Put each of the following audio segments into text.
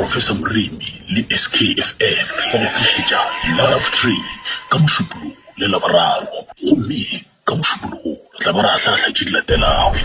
Professor Moremi le SKFM ba go tlišetša Love Train ka Mošupologo le Laboraro. Gomme ka Mošupologo re tla ba re ahlaahlaa tše di latelago.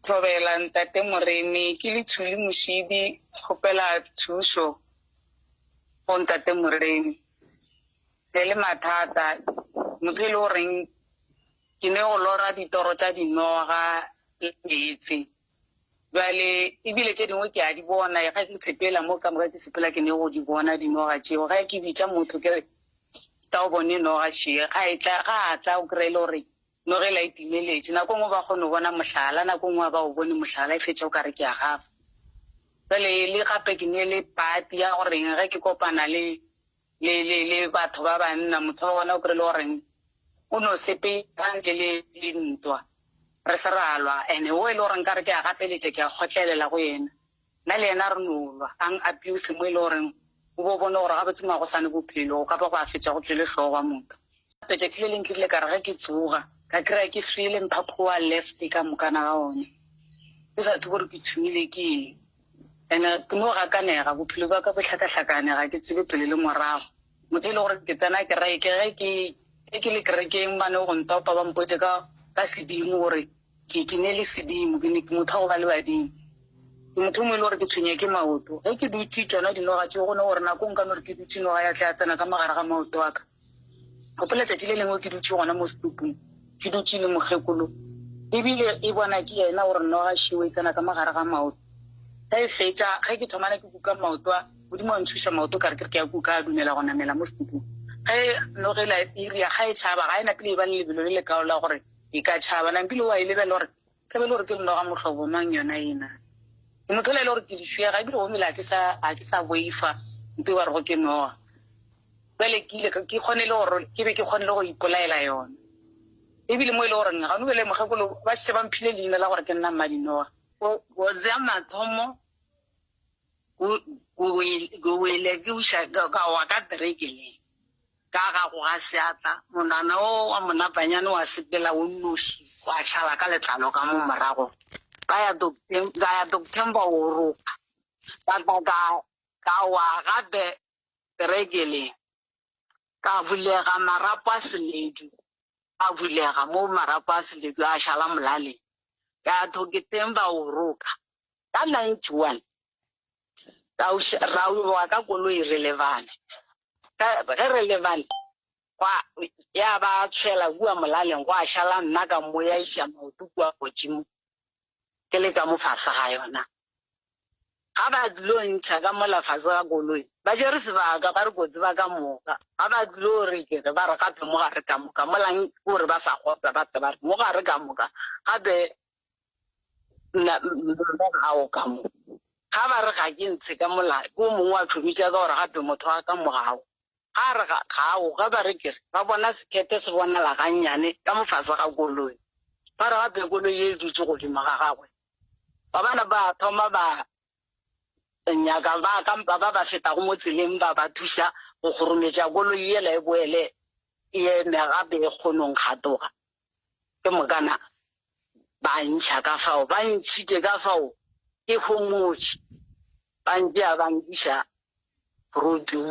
Thobela, Ntate Moremi, ke Lithuli Mošidi, kgopela thušo go Ntate Moremi. Re le mathata, motho e le goreng ke ne go lora ditoro tša dinoga le meetse. Bjale, ebile tše dingwe ke a di bona, ga ke tshepela mo ka moka, ke sepela ke ne go di bona dinoga tšeo. Ga ke bitša motho ke re, Tla o bone noga še. Ga e tla, ga a tla, o kry-e le gore noga e la e timeletše. Nako e nngwe ba kgona go bona mohlala, nako e nngwe ga ba o bone mohlala, e fetša o ka re ke a gafa. Bjale le gape ke ne le party ya goreng ge ke kopana le le, le, le batho ba banna, motho wa bona o kry-ile goreng o no sepela ntle le dintwa, re se ra lwa, and-e wo e le gore nkare ke a gapeletša, ke a kgotlelela go yena, nna le yena re no lwa, a ng-abuse mo e le goreng o bo bone gore gabotse magosane bophelo go ka ba go a fetša go tšwele hlogo wa motho. Tšatši le leng ke rile ka re ge ke tsoga, ka kry-a ke swele, mphaphu wa left ka moka na ga one, ke sa tsebe gore ke thomile ke eng. Ene ke no gakanega, bophelo bja ka bo hlakahlakane, ga ke tsebe pele le morago. Motho e le gore ke tsena kereke, ge ke ge ke le kerekeng ba no go ntopa ba mpotše ka ka sedimo gore ke ke ne le sedimo, ke ne ke motho wa go ba le badimo. Ke motho o mongwe e le gore ke tshwenya ke maoto, ge ke dutše tšona dinoga tšeo go no gore nako nka no re ke dutše noga ya tla ya tsena ka mo gare ga maoto a ka. Gopola tšatši le lengwe ke dutše gona mo setopong, ke dutše le mokgekolo, ebile e bona ke yena gore noga šeo e tsena ka mo gare ga maoto. Ge e fetša, ge ke thomana ke kuka maoto a, Modimo a ntšhoša maoto ka re ke re ke a kuka, a dumela go namela mo setopong. Ge noga e la e ria, ga e tšhaba, ga e na pele e ba le lebelo le lekaalo la gore e ka tšhaba, nampile o a e lebelela gore Ka be e le gore ke mnoga mohlobo mang yona yena? Ke motho yola e le gore ke lifjega ebile gomele ga ke sa, ga ke sa boifa mpe ba rego ke noga. Bjale ke ile, ke kgonile gore, ke be ke kgonile go ipolaela yona. Ebile mo e le goreng gano bjale mokgekolo ba šetše ba mphile leina la gore ke nna Mmadinoga. Go, go ja mathomo go, go, go wele, ke uša, ka, ka wa ka tereke le. Ka ga go ga seatla, monwana wo wa monabanyane wa sepela o nnoši wa tšhala ka letlalo ka mo morago. Ka ya Doktem-, ka ya Doktemba wo roga, ka tla ka, ka wa gape perekeleng. Ka bulega marapo a seledu, a bulega mo marapo a seledu a šala molaleng. Ka ya Thoketemba wo roga, Ka 91 ka o še, ra wa ka koloi re lebane. Ka, ge re lebane, gwa, ya ba a tshwela kua molaleng, gwa šala nna ka mmoyaiša maoto kua godimo, ke le ka mo fase ga yona. Ga ba dilo ntšha ka mola fase ga koloi, ba tšere sebaka, ba re kotsi ba ka moka. Ga ba dilo re ke re, ba re gape mo gare ka moka, mola ke gore ba sa kgotsa, ba tle ba re mo gare ka moka, gape gago ka mo ga ba re ga ke ntshe ka mola ke o mongwe wa thobitša ka gore gape motho wa ka mo gago ga re ga gago ga ba re kere ba bona sekete se bonala gannyane ka mofase ga koloi ba re gape koloi e dutse godimo ga gagwe ba bana ba thoma ba nyaka ba kampa ba ba fetago mo tseleng ba ba thuša go kgorometša koloi ela e boele e eme gape e kgonong gatoga ke mokana ba ntšha ka fao ba ntšhite ka fao ke homotše ba ntšea ba nkiša roading